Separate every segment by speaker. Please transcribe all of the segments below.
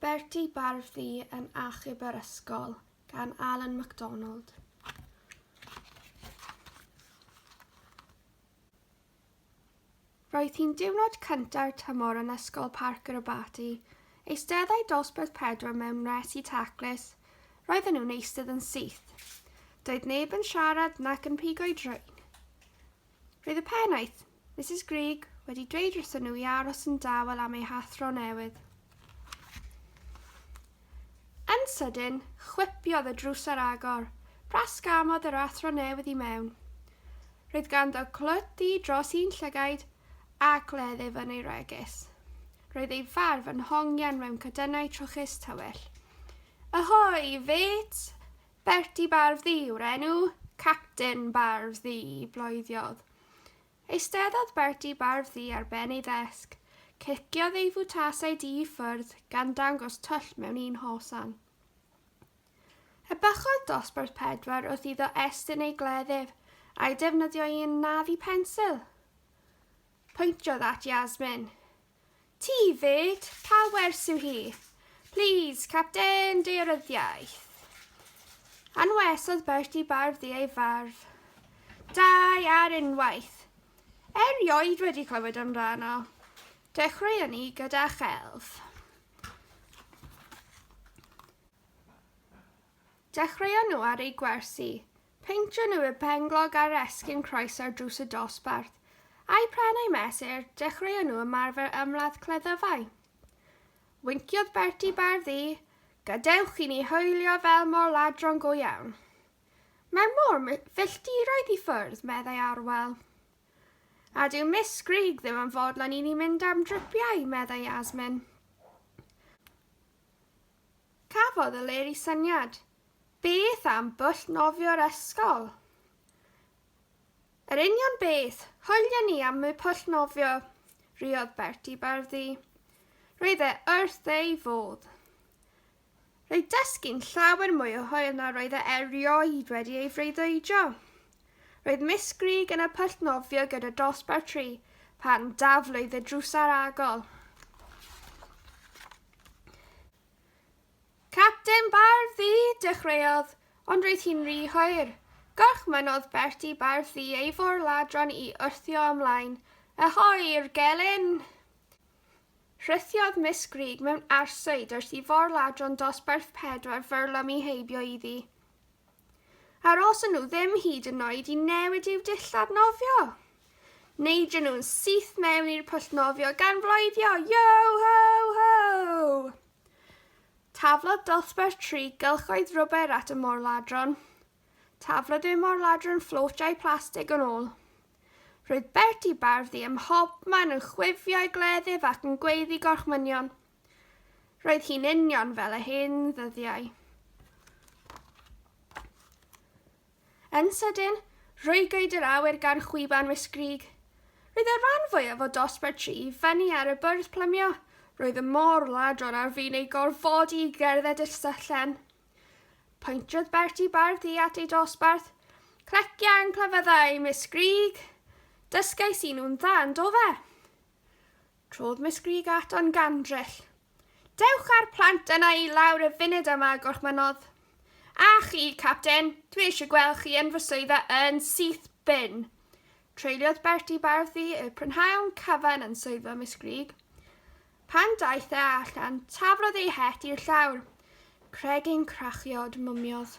Speaker 1: Bertie Barfi yn achub yr ysgol gan Alan McDonald. Roedd hi'n diwrnod cyntaf tymor yn Ysgol Parc yr Abaty. Eisteddai dosbarth pedwar mewn resi taclus. Roedden nhw'n eistedd yn syth. Doedd neb yn siarad nac yn pigo'i drain. Roedd y pennaeth, Misus Greig, wedi dweud wrthyn nhw i aros yn dawel am eu hathro newydd. Yn sydyn, chwipiodd y drws ar agor. Brasgamodd yr athro newydd i mewn. Roedd ganddo clwt ddu dros un llygaid a gleddyf yn ei wregys. Roedd ei farf yn hongian mewn cadynnau trwchus tywyll. Ahoi, fêt! Bertie Barf Ddu yw'r enw. Capten Barf Ddu bloediodd. Eisteddodd Bertie Barf Ddu ar ben ei ddesg. Ciciodd ei fwtasau du i ffwrdd, gan dangos twll mewn un hosan. Ebychodd dosbarth pedwar wrth iddo estyn ei gleddyf, a'i defnyddio i anafu pensil. Pwyntiodd at Yasmin. Ti 'fyd? Pa wers yw hi? Plîs, Capten, dearyddiaeth. Anwesodd Bertie barf ddi ei farf. Dau ar unwaith. Erioed wedi clywed amdano. Dechreuon ni gyda chelf. Dechreuon nhw ar ei gwersi. Peintio nhw i'r penglog ar esgyn croes ar drws y dosbarth. A'u pren a'u mesur, dechreuon nhw ymarfer ymladd cleddyfau. Winciodd Bertie bardd ddu, Gadewch i ni hwylio fel mor ladron go iawn. Mae mor filltiroedd i ffwrdd, meddai Arwel. A dyw Miss Grug ddim yn fodlon i ni mynd am dripiau, meddai Yasmin. Cafodd Eleri syniad. Beth am bwll nofio'r ysgol? Yr union beth! Hwyliau ni am y pwll nofio! riodd Bertie Barddy. Roedd e wrth ei fodd. Roedd dysgu'n llawer mwy o hwyl na roedd e erioed wedi ei freuddwydio. Roedd Miss Grug yn y pwll nofio gyda dosbarth tri pan daflwyd y drws aragol. Capten Bardd Ddu, dechreuodd, ond roedd hi'n rhy hwyr. Gorchmynnodd Bertie Bardd Ddu ei forladron i wrthio ymlaen. Ahoi i'r gelyn! Rhythiodd Miss Grug mewn arswyd wrth i forladron dosbarth pedwar fyrlwm i heibio iddi. Aroson nhw ddim hyd yn oed i newid i'w dillad nofio! Neidion nhw'n syth mewn i'r pwll nofio gan floeddio, Yo ho ho! Taflodd dosbarth tri gylchoedd rwber at y morladron. Taflodd y morladron fflotjau plastig yn ôl. Roedd Bertie Barthy ym mhobman yn chwifio ei gleddyf ac yn gweiddi gorchmynion. Roedd hi'n union fel y hen ddyddiau. Yn sydyn, rhwygwyd yr awyr gan chwiban wisgrug. Roedd y rhan fwyaf o dosbarth tri i fyny ar y bwrdd plymio, roedd y môr ladron ar fin eu gorfodi i gerdded i'r syllen. Poentrodd Bertie bardd hi at ei dosbarth. Clecia yn clefyddau, Miss Grug! Dysgais i nhw'n dda, yn do fe? Trodd Miss Grug at Ann Gandrell. Dewch â'r plant yna i lawr y funud yma, gorchmynnodd. A chi, Capten, dwi eisiau gweld chi yn fy swyddfa yn syth bin. Treuliodd Bertie Barthy y prynhawn cyfan yn swyddfa Miss Grug. Pan daeth e allan, taflodd ei het i'r llawr. Cregyn crachiod mymiodd.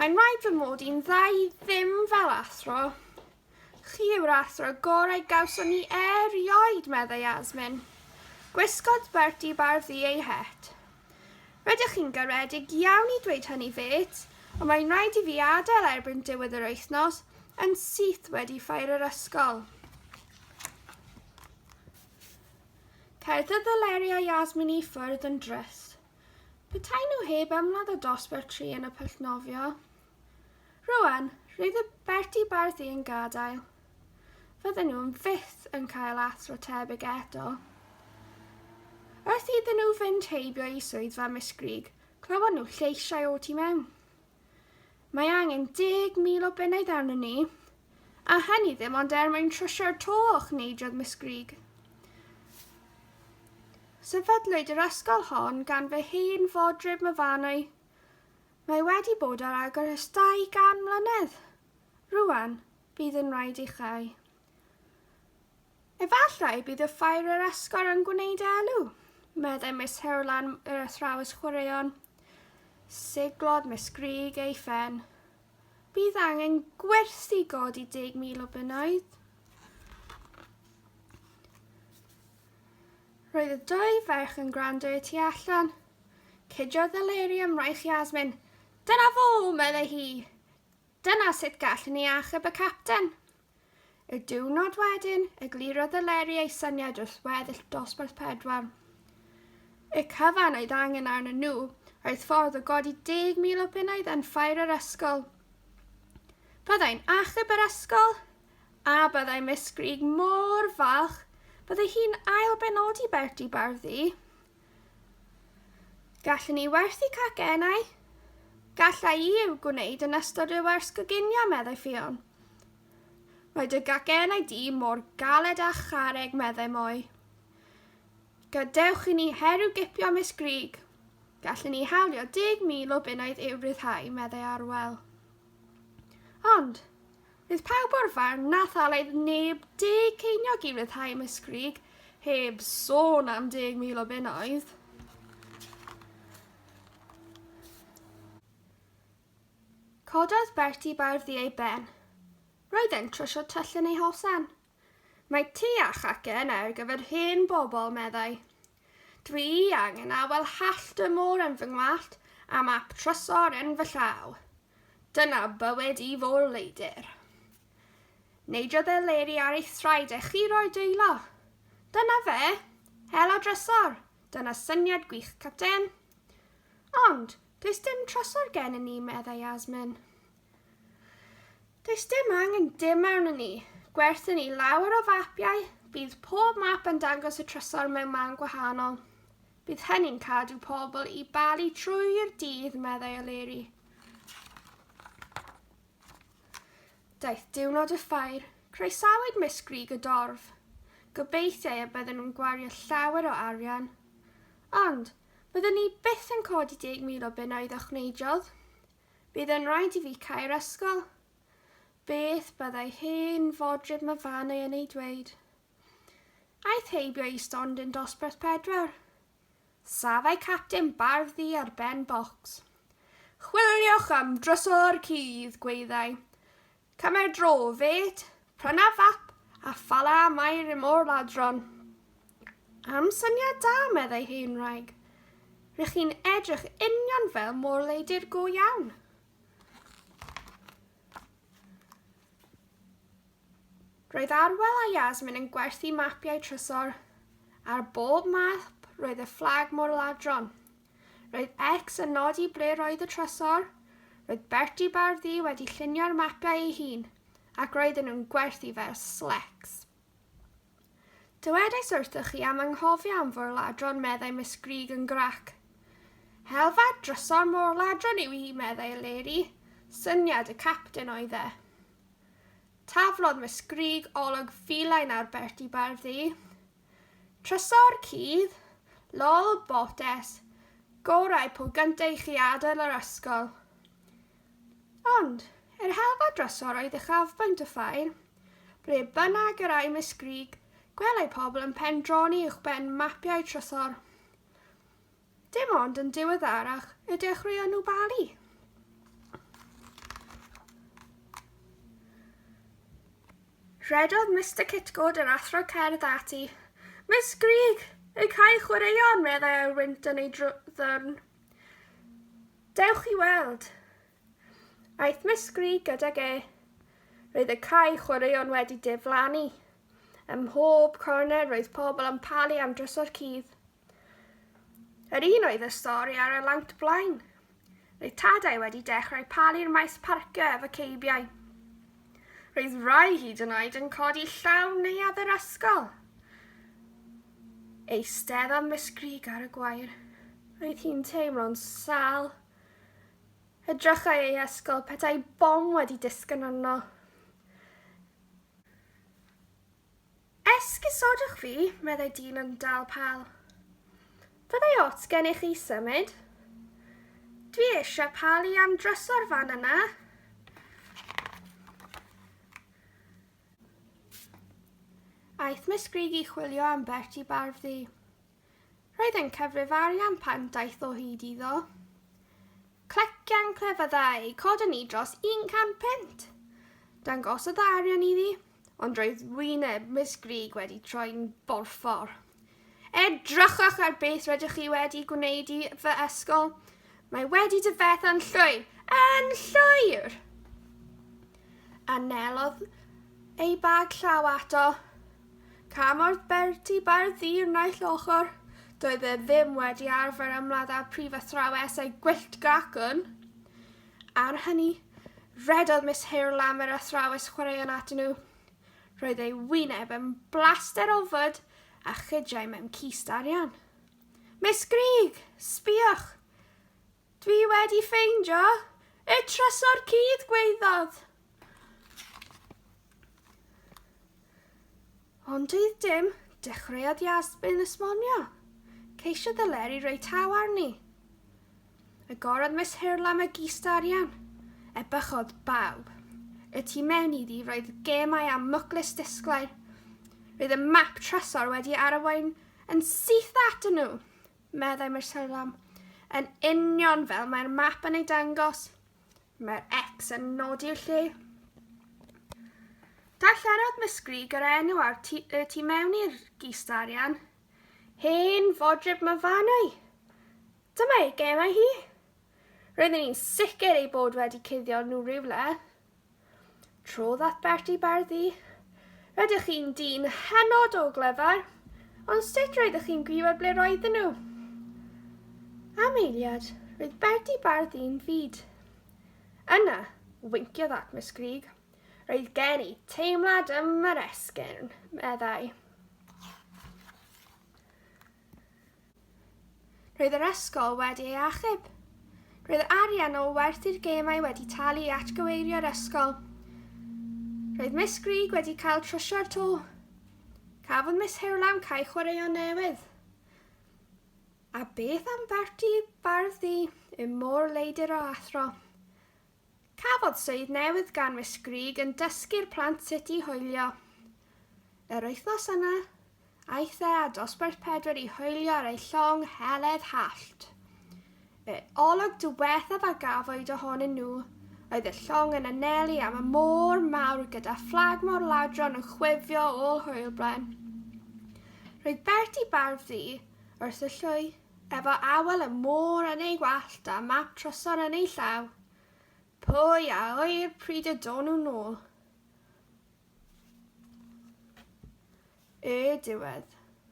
Speaker 1: Mae'n rhaid fy mod i'n dda i ddim fel athro. Chi yw'r athro gorau gawson ni erioed, meddai Yasmin. Gwisgodd Bertie Bardhi ei het. Rydych chi'n garedig iawn i dweud hynny, fêt, ond mae'n rhaid i fi adael erbyn diwedd yr wythnos yn syth wedi ffair yr ysgol. Cae'r ddyddyleriau Yasmin i ffwrdd yn drist. Petai nhw heb ymladd o dosbarth tri yn y pwll nofio. Rwan, roedd y Berti Bardi yn gadael. Fydden nhw'n fyth yn cael athro tebyg eto. Wrth iddyn nhw fynd heibio i swyddfa Miss Grug, clywon nhw lleisiau o tu mewn. Mae angen 10,000 o bennaeth arnon ni, a hynny ddim ond er mwyn trwsio'r to, chneidodd Miss Greig. Sefydlwyd yr ysgol hon gan fy hen fodryb myfanwy. Mae wedi bod ar agor ers 200 mlynedd. Rwan, bydd yn rhaid i chi. Efallai bydd y ffair yr esgor yn gwneud elw, meddai Miss Herlan yr athrawes chwaraeon. Siglodd Miss Greg ei phen. Bydd angen gwerthu god i 10,000 o bunnoedd. Roedd y dwy ferch yn gwrando i ti allan. Cydiodd y leiri am raich Yasmin. Dyna fo, meddai hi. Dyna sut gallwn ni achub y capten. Y diwrnod wedyn, eglurodd Eleri ei syniad wrth weddill dosbarth pedwar. Y cyfan oedd angen arnyn nhw oedd ffordd o godi 10,000 o bunnoedd yn ffair yr ysgol. Byddai'n achub yr ysgol, a byddai Miss Grug mor falch, byddai hi'n ail-benodi Bertie Barddu. Gallwn ni werthu cacennau? Gallai i eu gwneud yn ystod rhyw wers goginio, meddai Ffion. Mae dy gacennau di mor galed a charreg, meddai Moe. Gadewch i ni herw gipio Miss Grug. Gallwn ni hawlio deg mil o bunnoedd i'w ryddhau, meddai Arwel. Ond, bydd pawb o'r farn na thalaidd neb deg ceiniog i ryddhau Mysgrig, heb sôn am deg mil o bunnoedd. Cododd Bertie bardd i ei ben. Roedd e'n trwsio twll yn ei hosan. Mae tŷ a chace yna ar gyfer hen bobl, meddai. Dwi angen awel hallt y môr yn fy ngwallt a map trysor yn fy llaw. Dyna bywyd i fôr-leidr. Neidiodd Eleri ar ei thraed a chiro'i dwylo. Dyna fe! Hel a drysor! Dyna syniad gwych, Capten. Ond, does dim trysor gennym ni, meddai Yasmin. Does dim angen dim arnon ni. Gwerthyn ni lawer o fapiau, bydd pob map yn dangos y trysor mewn man gwahanol. Bydd hynny'n cadw pobl i balu trwy'r dydd, meddai O'Leary. Daeth diwrnod y ffair, croesawyd Miss Grig y dorf. Gobeithiau y bydden nhw'n gwario llawer o arian. Ond, byddwn ni byth yn codi 10,000 o bunnoedd o chwneidiodd. Bydd yn rhaid i fi cau'r ysgol. Beth byddai hen fodryb Myfanwy yn ei dweud? Aeth heibio i stondin dosbarth pedwar. Safai capten barf ddu ar ben bocs. Chwiliwch am drysor cudd, gwaeddai. Camau dro, fêt, prynaf fap, a phala mae rym o'r ladron. Am syniad da, meddai hen wraig. Rych chi'n edrych union fel morleidir go iawn. Roedd Arwel a Yasmin yn gwerthu mapiau trysor. Ar bob map roedd y fflag mor ladron. Roedd Ecs yn nodi ble roedd y trysor, roedd Bertie bar ddu wedi llunio'r mapiau ei hun, ac roedden nhw'n gwerthu fe ar Slecs. Dywedais wrthoch chi am anghofio am forladron, meddai Miss Greig yn grac. Helfa drysor morladron yw hi, meddai Eleri. Syniad y capten oedd e. Taflodd Miss Greig olwg filain ar Bertie bar ddu. Trysor cudd, lol botes, gorau po gynta i chi adael yr ysgol. Ond, yr helfa drysor oedd uchafbwynt y ffair. Ble bynnag yr ai Miss Grug, gwelai pobl yn pendroni uwchben mapiau trysor. Dim ond yn diweddarach y dechreuon nhw balu. Rhedodd Mr Kitgod yr athro cerdd ati. Miss Greg, y cael chwaraeon, meddai ar wynt yn ei ddwrn. Dewch i weld. Aeth Miss Greg gydag e. Roedd y cael chwaraeon wedi diflannu. Ym mhob cornel roedd pobl yn palu am drysor cudd. Yr un oedd y stori ar y lawnt blaen. Roedd tadau wedi dechrau palu'r maes parcio efo ceibiau. Roedd rai hyd yn oed yn codi llaw neuadd yr ysgol. Eistedd am Miss Greg ar y gwair. Roedd hi'n teimlo'n sal. Edrychai ei ysgol petai bom wedi disgyn arno. Esgusodwch fi, meddai dyn yn dal pal. Fyddai ots gennych chi symud? Dwi eisiau pal i am dryso'r fan yna. Aeth Miss Grigg i chwilio am Bertie Barfddi. Roedd e'n cyfrif arian pan daeth o hyd iddo. Clecian clefyddau, coda ni dros 100 punt! Dangosodd y arian iddi, ond roedd wyneb Miss Grug wedi troi'n borffor. Edrychwch ar beth rydych chi wedi gwneud i fy ysgol. Mae wedi dyfetha'n llwyr, yn llwyr! Anelodd ei bag llaw ato, Cymorth Bertie Ba'r ddydd naill ochr, doedd e ddim wedi arfer ymladd â prif athrawes ei gwyllt gracwn. Ar hynny, rhedodd Miss Hale am yr athrawes chwaraeon atyn nhw. Roedd ei wyneb yn blaster o fwd a chydiau mewn cist arian. Miss Grigg, sbïwch! Dwi wedi ffeindio y trysor cudd gwaeddodd. Ond dydd dim, dechreuodd Yasmin esmonio. Ceisio ddyleri roi taw arni. Y gorodd Miss Hirla magista arian. E bychodd bawb. Y tu mewn iddi roedd gemau a mwclis disglair. Roedd y map trysor wedi arwain yn syth at nhw. Meddai Marcel Lam, Yn union fel mae'r map yn ei dangos, mae'r X yn nodi'r lle. Darllenodd Misgrig yr enw a'r tu, y tu mewn i'r gist arian. Hen fodryb myfanau. Dyma ei gemau hi. Roedden ni'n sicr ei bod wedi cuddio nhw rhywle. Trodd at Bertie Barddi. Rydych chi'n dyn hynod o glyfar, ond sut roeddech chi'n gwybod ble roedden nhw? Am eiliad, roedd Bertie Barddi'n fyd. Yna, winciodd at Miss Grug. Roedd gen i teimlad ym yr esgyrn, meddai. Roedd yr ysgol wedi ei achub. Roedd yr arian o werth i'r gemau wedi talu i atgyweirio'r ysgol. Roedd Miss Grug wedi cael trwsio'r to. Cafodd Miss Hirlam cael chwaraeon newydd. A beth am Bertie Bardd ddi, y môr leidr o athro? Cafodd swydd newydd gan Miss Greig yn dysgu'r plant sut i hoelio. Yr wythnos yna, aeth e â dosbarth pedwar i hoelio ar ei llong heledd hallt. Y olwg diwethaf a gafwyd ohonyn nhw oedd y llong yn anelu am y môr mawr gyda fflag mor ladron yn chwifio ôl hwylbren. Roedd Bertie bardd ddu wrth y llwy. Efo awel y môr yn ei wallt a map trysor yn ei llaw, pwy a ŵyr pryd y do'n nhw nôl? Y diwedd.